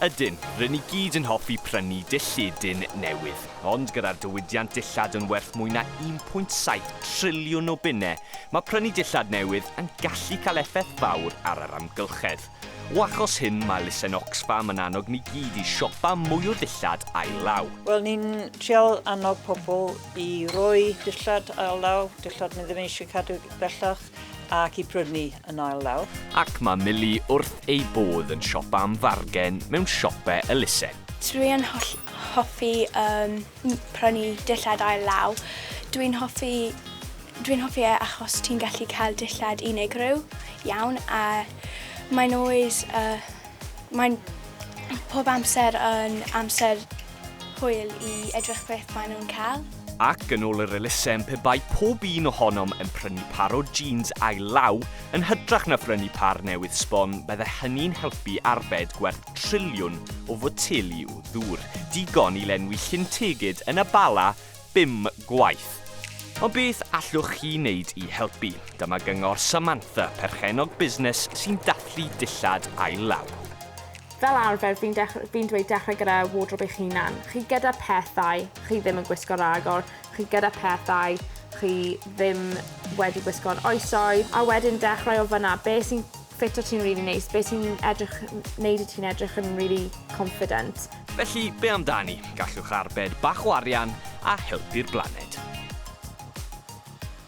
Ydyn, rŷn i gyd yn hoffi prynu dillledyn newydd, ond gyda'r diwydiant dillad yn werth mwy na 1.7 triliwn o bunnau, mae prynu dillad newydd yn gallu cael effaith fawr ar yr amgylchedd. O achos hyn, mae elusen Oxfam yn annog ni gyd i siopa mwy o ddillad ail-law. Wel, ni'n trial annog pobl i roi dillad ail-law, dillad ni ddim eisiau cadw bellach, ac i prynu yn ail lawr. Ac mae Milly wrth ei bodd yn siopa am fargen mewn siope elusen. Dwi'n hoffi um, prynu dillad ail law. Dwi'n hoffi, dwi'n hoffi e achos ti'n gallu cael dillad unigryw iawn a mae'n always, uh, mae'n pob amser yn amser hwyl i edrych beth maen nhw'n cael. Ac yn ôl yr elusen pe bai pob un ohonom yn prynu par o jîns ail law yn hytrach na phrynu par newydd sbon bydde hynny'n helpu arbed gwerth triliwn o foteli o ddŵr, digon i lenwi llyn tegid yn y Bala bum gwaith. Ond beth allwch chi wneud i helpu? Dyma gyngor Samantha, perchennog busnes sy'n dathlu dillad ail-law. Fel arfer, fi'n dech- fi'n dweud dechrau gyda wardrobe eich hunan. Chi gyda pethau chi ddim yn gwisgo ragor, chi gyda pethau chi ddim wedi gwisgo'n oesoedd, a wedyn dechrau o fan'na. Be' sy'n Sut wyt ti'n rili neis? Be sy'n edrych... wneud i ti'n edrych yn rili confident? Felly, be amdani? Gallwch arbed bach o arian a helpu'r blaned.